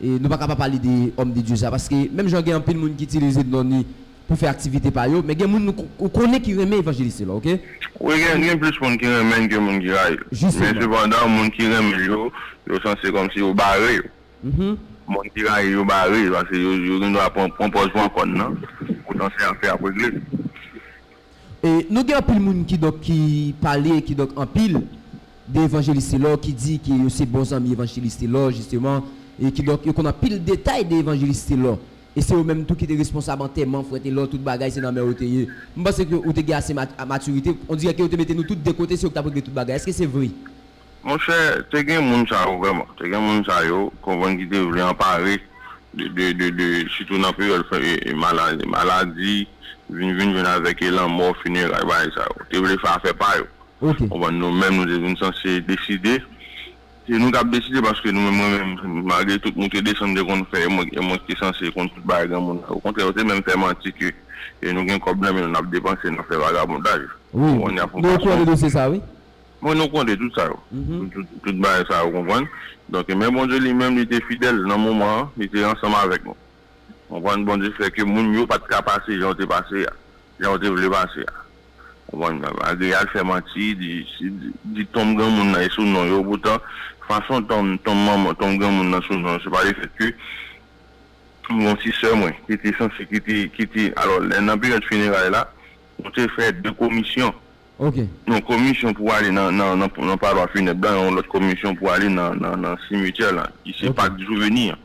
E nou pa ka pa pale de Homme de Dieu sa paske menm jan gen anpil moun ki itilize non li pou fè aktivite pa yo men gen moun ou konnen ki renmen Evanjelis Telor ok. Wi gen gen plis moun ki renmen l ke moun ki rayi l. Men sepandan moun ki renmen l yo, yo sanse kòmsi yo bare yo. Moun ki rayi l yo bare paske yo gen dwa pran pòz pran kòn nan poutan se afè y ap regle. E nou gen anpil moun ki donk ki pale ki donk anpil de Evanjelis Telor ki di ke yo se bon zanmi Evanjelis Telor jisteman e ki donk yo konn anpil detay de Evanjelis Telor. E se yo menm tou ki te responsab antèman frè Telor tout bagay se nan men yo te ye. M panse ke ou te gen ase matirite, on dirè ke yo te mete nou tout de kote se yo ki t ap regle tout bagay. Eske se vre? Monchè, te gen moun sa yo vrèman. Te gen moun sa yo, konprann, ki te vle anpare de, sitou nan peryòd maladi, vin vin jwenn avèk e lanmò, fineray, bagay sa yo. Te vle fè afè pa yo. Konprann, nou menm nou te vin sanse deside. Se nou k ap deside paske nou menm, mwen menm, malgre tout moute desann m te konn fè e mwen e mwen ki te sanse konn tout bagay granmoun nan. Okontrè, yo te menm fè manti ke nou gen kòb nan men nou n ap depanse nan fè vagabondaj. Wi, nou konnen dosye sa wi. Mwen nou konde tout sa yo. Tout bagay sa yo konprann. Donk men Bondye li menm li te fidèl nan moman an, li te ansanm avèk nou. Konprann Bondye fè ke moun yo pat ka pase jan yo te pase a, jan yo te vle pase a. Konprann malgre yal fè manti, di di tonm granmoun nan e sou non yo poutan fason tonm tonm manman tonm granmoun nan sou non yo se pa le fèt ke m gon ti sè mwen ki te sanse ki te ki te alò lè nan peryòd fineray la nou te fè 2 komisyon Ok. Yon komisyon pou ale nan nan palwa funèb la yon lòt komisyon pou ale nan nan simetyè la ki se Pak Jouveni an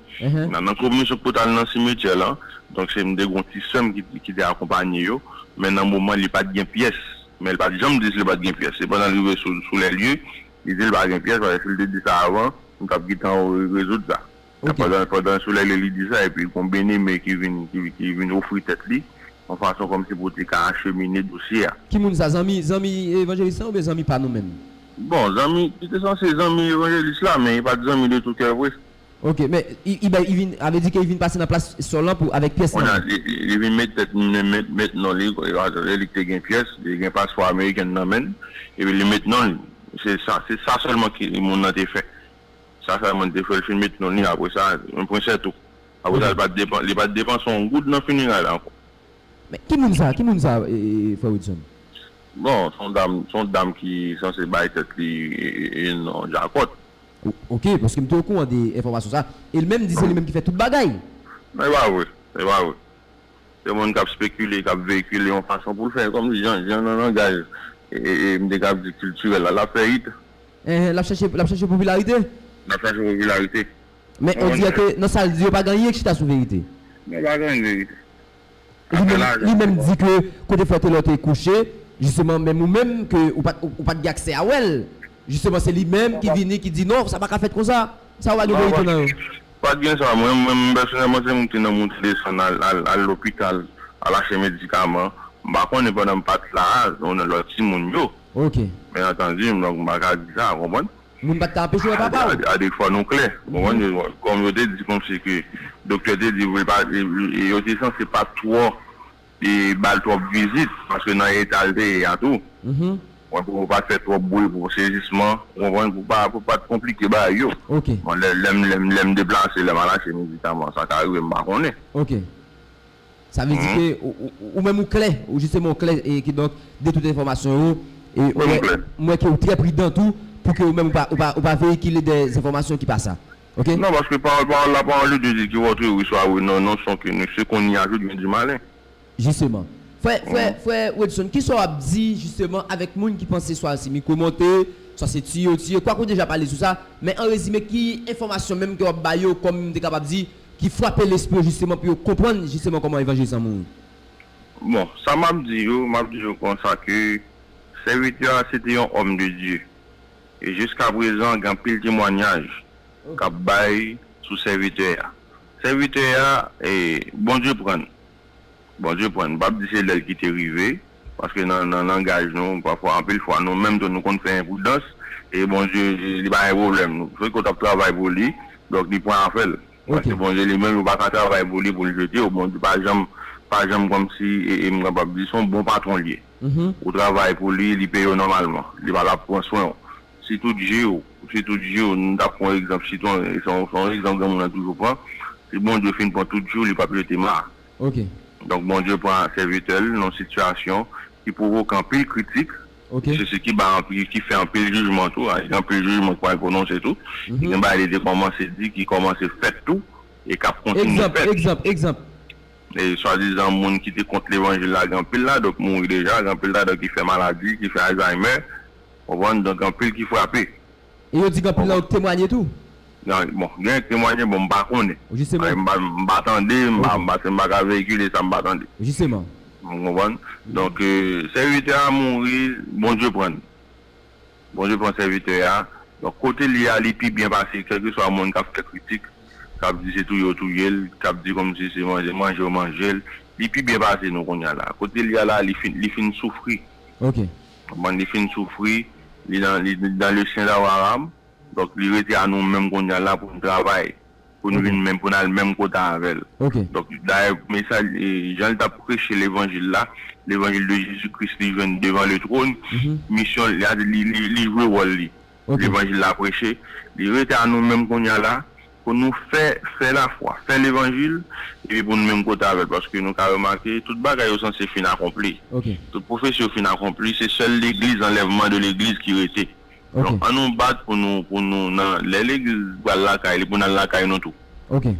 nan nan komisyon ki pou ta al nan simetyè la donk se m te gon ti sè m ki te akonpanye yo men nan moman li pat gen pyès men li pat janm di si li pat gen pyès sepandan l rive sou lè lye li di l pa gen pyès paske si l te di sa avan nou tap gentan rezoud sa Ok. Pandan Solèy lè li di sa epi gon Beneme ki vin ki vin ofri tèt li yon fason kòmsi pou te ka achemine dosye a. Ki moun sa? Zanmi zanmi evanjelis lan oubyen zanmi pa nou menm? Bon, zanmi, li te sanse zanmi evanjelis la men li pa t zanmi de tou kè vre. Ok, men i bay i vin avle di ke li vin pase nan plas Sòl lan pou avèk pyès lan Konnya menm? li vin met tèt li menm met met non li lè li te gen pyès li gen paspò amerikèn nan men l epi li met non li se sa se sa sèlman ki moun nan te fè. Sa Simon te fè l fin met non li apre sa, yon prensè tou. Apre sa, li pa t depanse yon goud nan fineray la ankò. Men, ki moun sa? Ki moun sa, frè Widson? Bon, se yon dam, se yon dam ki sanse bay tèt li non Jakòt. Oke, paske m te okouran de enfòmasyon sa. E li menm di se li menm ki fè tout bagay. Non, e pa vre. E pa vre. Se moun k ap spekile, k ap veyikile yon fason pou l fè kòmsi jan nan langaj m te kab di kiltirèl la, l ap fè it. Enhen lap chache lap chache popilarite. Lap chache popilarite. Men on dirè ke nan sal di yo pa gen anyen ki chita sou verite. Non pa gen anyen ki verite. Afè lajan se. Li menm di ke kote frè Telor te kouche jisteman menm ou menm ke ou pat ou pat gen aksè a wèl jisteman se li menm ki vini ki di non sa paka fèt konsa sa yo pa gen verite nan yo. Pa gen sa mwen menm pèsonèlman se moute nan moute desann al al al lopital al achte medikaman m pa konnen pandan m pat la a nan lòt timoun yo. Ok. Men antandi, m donk m pa ka di sa, ou konprann? Moun pa t ka anpeche wè papa ou? Adrik fò nou klè, ou konprann? Kòm yo te di kòmsi ke doktè te di pou l pa e yo te sanse pa twò e ba l twòp vizit paske nan eta l te ye a tou, ou konprann, pou pa fè twòp bri pou sezisman, ou konprann, pou pa pou pa t konplike bagay yo. Ok. Bon, lè lè m lè m deplase, lè m al achte medikaman, sa ka rive m pa konnen. Ok. Sa vle di ke ou menm ou klè, ou jisteman ou klè e kidonk de tout enfòmasyon yo e ou wè, m wè ke ou trè pridan tou pou ke ou menm ou pa veyikile dè enfòmasyon ki pa sa. Ok? Non, paske pawòl pa wòl, la pawòl de Dye di ki wòtre wi swa wi non, non son ke nou se kon ni a jout gen di malen. Jisteman. Frè, frè, frè Wedson, kisa w ap di jisteman avèk moun ki panse swa se mikwo monte, swa se tiyo tiye, kwak ou deja pale sou sa, men an rezime ki enfòmasyon menm ke w ap ba yo kòm m te kapab di, Ki fwape lespri yo jisteman pou yo konprann jisteman kòman evanjil san mouri. Bon, sa m ap di yo, m ap di yo konsa ke sèvitè a se te yon òm de Dye. E jiskaprezan gen anpil temwanyaj k ap bay sou sèvitè a. Sèvitè a, Bondye pran l. Bondye pran. M pap di se lè l kite rive, paske nan nan langaj nou pafwa anpil fwa nou menm tou nou konn fè enpridans e Bondye li pa gen pwoblèm nou se ke w t ap travay pou li donk li pran afè l paske Bondye li menm ou pa ka travay pou li pou l jete w Bondye pa janm pa janm kòmsi e m kapab di se yon bon patwon l ye ou travay pou li li peye w nòmalman li pa la pou l pran swen w. Si tout je w, si tout je w, m tap pran egzanp sitwon, se yon egzanp granmoun nan toujou pran, si Bondye fin pran tout je w li pap jete ma. Donk Bondye pran sèvitè l nan sitiyasyon ki pwovoke anpil kritik, se sa ki bay anpil, ki fè anpil jijman tou, gen anpil jijman ki pral pwononse tou, gen bagay li te kòmanse di ki kòmanse fèt tou e kap kontinye fèt. Egzanp, egzanp, egzanp. Swadizan moun ki te kont levanjil la gen anpil ladan yo ki mouri deja, gen anpil ladan yo ki fè maladi, ki fè alzaymè. Konprann? Donk gen anpil ki frape. E yo di gen anpil nan yo ki temwanye tou? Nan, bon, genyen ki temwanye, bon m pa konnen. Jisteman. Paske m pa tande, m pa, paske m pa ka veyikile sa m pa tande. Jisteman. Ou konprann? Donk, sèvitè a mouri, Bondye pran l. Bondye pran sèvitè a. Donk, kote l ye a li pi byen pase kèlkeswa moun k ap fè kritik, k ap di se touye yo touye l, k ap di kòmsi se manje manje yo manje l. Li pi byen pase nou kounye a la. Kote l ye a la li fin, li fin soufri. Ok. Bon li fin soufri, li nan li nan le sen da waram, donk li rete a nou menm kounya la pou nou travay, pou nou vin menm pou nou al menm kota avèl. Donk dayè mesaj jan li tap preche levanjil la, levanjil de Jezi Kris li jwenn devan le trône, misyon li li jwe wòl li, levanjil la preche, li rete a nou menm kounya la, pou nou fè, fè lafwa, fè levanjil, epi pou nou menm kote avè l, paske nou ka remake tout bagay yo sanse fin akonpli, tout pwofesi yo fin akonpli, se sèl legliz, anlèvman de legliz ki rete. Donk an nou bat pou nou, pou nou nan, lè legliz pral lakay li, pou n al lakay nou tou. Ok.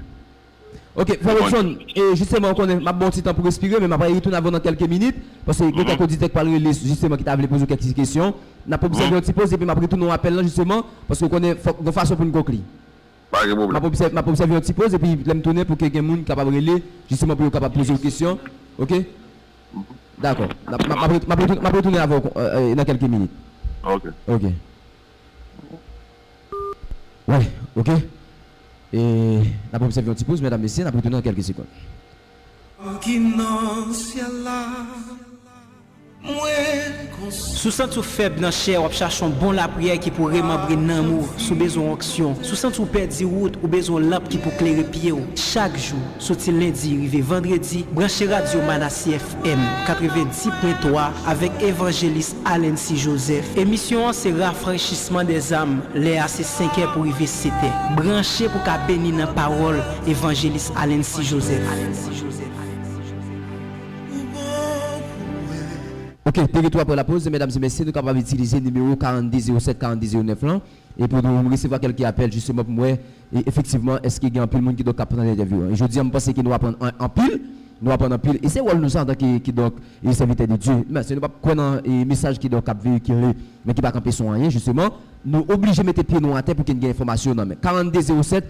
Ok, Frè Robson, e jisteman ou konnen, m ap ba w ti tan pou respire, men m ap rayi retounen avè w nan kèlke minit, paske gen kèk oditè k pral rele, jisteman ki ta vle poze w kèk ti kesyon. N ap obsève yon ti poz epi m ap retounen w apèl lan jisteman, paske ou konnen fòk, gon fason pou n konkli. Pa gen pwoblèm. M ap obsève yon ti poz epi lè m tounen pou ke gen moun kapab rele jisteman pou yo kapab poze w kesyon ok dakò m ap retounen avè w nan kèlke minit ok ok wè ok n ap obsève yon ti poz mèdam mesye n ap retounen nan kèlke sekond. Si w santi w fèb nan chè, w ap chache yon bon lapriyè ki pou remanbre nanm ou, si w bezwen yon onksyon, si w santi w pèdi wout, ou bezwen yon lanp ki pou klere pye w, chak jou, soti lendi rive vandredi, branche radyo Manasye FM 90.3 avèk evanjelis Alency Joseph. Emisyon an se Rafraychisman dè zàm, lè a se senkè pou rive setè. Branche pou w ka beni nan pawòl. Evanjelis Alency Joseph. Ok, de retou apre lapoz, medam e mesye, nou kapab itilize nimewo 42 07 42 09 lan, e pou nou resevwa kelke apèl jisteman pou m wè e efektivman eske gen anpil moun kidonk kap pran entèvyou an. E jodi an m panse ke nou aprann an anpil, nou aprann anpil e se wòl nou sa antanke kidonk e sèvitè de Dye. Men, si nou pap kwè nan e mesaj kidonk kap veyikile men ki pa kanpe sou anyen jisteman, nou oblije mete pye nou atè pou ke n gen enfòmasyon nan men. 42 07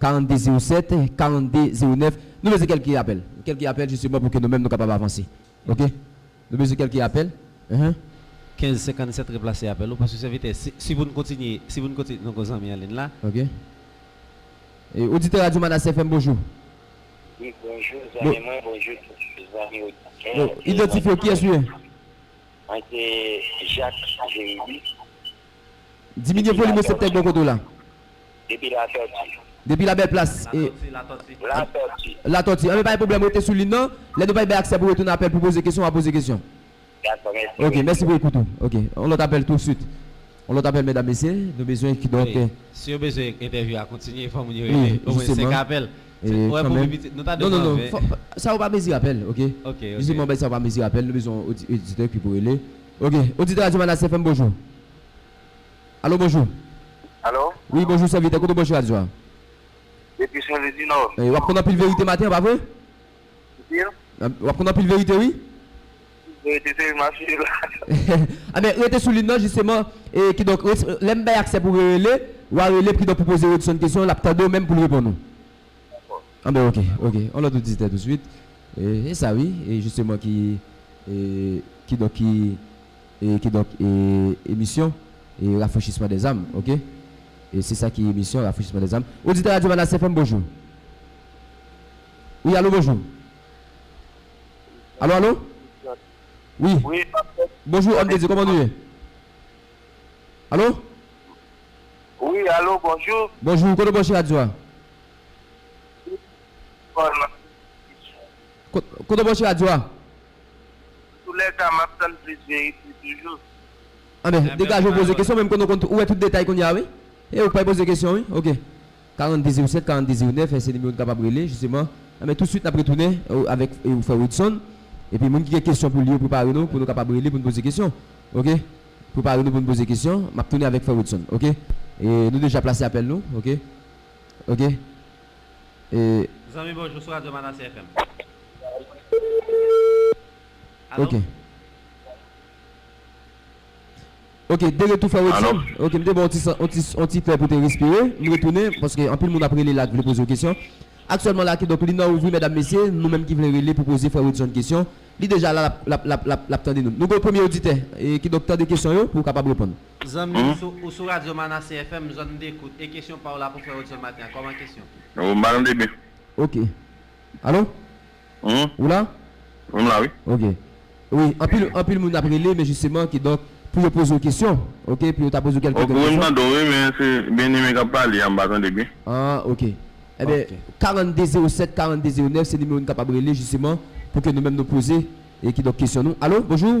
42 07 42 09 nou bezwen kèlke apèl kèlke apèl jisteman pou ke nou menm nou kapab avanse ok nou bezwen kèlke apèl uh. 15 57 replase apèl ou paske sèvitè si si pou nou kontinye si pou nou kontinye nou gen yon zanmi anliy la. Ok e oditè radyo manase FM bonjou. Wi bonjou zanmi mwen bonjou tout zanmi oditè bon idantifye w kiyès ou ye? Mwen se Jacques Jérély. Diminye volim reseptè k bò kote w la. Depi Latòti. Depi Labèl Plas. Latòti, Latòti. Latòti. Latòti. Anben pa gen pwoblèm, rete sou lin nan. Lè nou bay bay aksè pou retounen apèl pou poze kesyon, w a poze kesyon. Dakò, mèsi pou ekoutou. Ok, mèsi pou ekoutou. Ok, yon lòt apèl tousuit. Yon lòt apèl mèdam mesye, nou bezwen kidonk. Wi, si yo bezwen entèvyou a kontinye, fò moun yo rele omwen 5 apèl. Wi, jisteman. Ou wè pou pi piti, nou ta dwe pran 20. Non, non, non, sa yo pa mezi apèl, ok. Ok, ok. Jisteman bay sa yo pa mezi apèl, nou bezwen yon oditè ki pou rele. Ok oditè radyo Manasse FM bonjou Alo bonjou Alo wi bonjou sèvitè kote w branche radyo a Depi sèvis di nò E wap konn anpil verite maten an pa vre Anpil Wap konn anpil verite wi Anpil verite se map suiv la Anben rete sou lin nan jisteman e kidonk lèm bay aksè pou rele wa rele kidonk pou poze Rodson kesyon lap tande w menm pou l reponn ou Dakò. Anben ok ok on lòt ou dizitè touswit e sa wi e jisteman ki e kidonk ki e kidonk e emisyon e rafrechisman dè zam ok e se sa ki emisyon rafrechisman dè zam oditè radyo manastè fèm bonjou wi alo bonjou alo alo wi bonjou òm de dye kòman nou ye alo wi alo bonjou bonjou kote w branche radyo a. Kote ou ye nan emisyon an? Kote ou branche radyo a? Antoulèka map tann plis verite toujou. Anben, degaje w poze kesyon menm konnen ou wè tout detay kounye a wi. E ou k pa poze kesyon wi. Ok. 42 07 42 09 se nimewo n kapab rele jisteman. Anben touswit nap retounen avèk frè Widson. Epi moun ki gen kesyon pou li yo prepare nou pou nou kapab rele pou n poze kesyon. Ok. Prepare nou pou n poze kesyon. Map tounen avèk frè Widson. Ok. E nou deja plase apèl nou. Ok. ok e. Zanmi bonjou sou radio manasse FM ok alo. Ok m te retou frè Alo. Wedson ok m te baw ti san on ti on ti fè pou te respire m retounen paske anpil moun ap rele la k vle poze w kesyon aktyèlman la kidonk lin an ouvri mèdam mesye nou menm ki vle rele pou poze frè Wedson kesyon li deja la lap lap lap lap tande nou nou gen yon premye oditè e kidonk tande kesyon yo pou w kapab reponn. Zanmi m ou sou radyo Manasse FM zòn m dekout e kesyon pa w la pou frè Hudson maten an kòman kesyon. Ou m ba nan debe. Ok Alo ou la? M la wi. Ok wi anpil anpil moun ap rele men jisteman ki donk pou yo poze w kesyon ok pou yo ta poze w kèlke kèlke kesyon. Ok wi m tande w wi men se Bien Aimé k ap pale a m pa tande byen. An ok enben 42 07 42 09 se nimewo nou kapab rele jisteman pou ke nou menm nou poze e ki donk kesyon nou. Alo bonjou.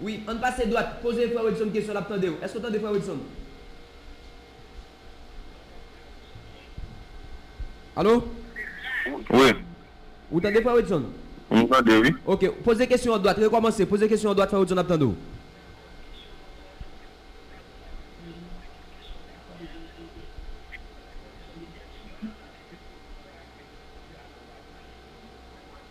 Wi, ann pase dwat. Poze frè Wedson kesyon, l ap tande w. Èske w tande frè Wedson? Alo? Wi. Ou tande frè Wedson? M tande, wi. Ok. Poze kesyon an dwat. Rekòmanse. Poze kesyon an dwat, frè Wedson ap tande w.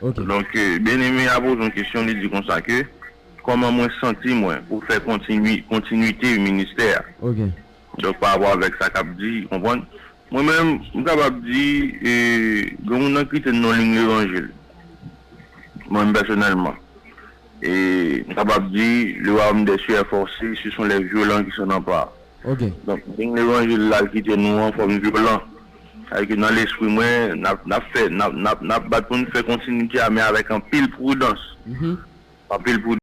Ok. Donk Bien-Aimé a poze yon kesyon, li di konsa ke, Kòman mwen santi mwen pou fè kontinui, kontinuite ministè a? Ok. Donk pa rapò avèk sa k ap di, konprann? Mwen menm, m kapab di, e gen moun nan ki te non li m levanjil. Mwen menm pèsonèlman. E m kapab di, le Royaume des cieux est forcé, ce sont les violents qui s'en emparent. Ok. Donk moun levanjil la ki te nou an fòm vyolan. Sa ke nan lespri mwen nap nap fè nap nap nap bat pou n fè kontinite a men avèk anpil prudans. Anpil prudans.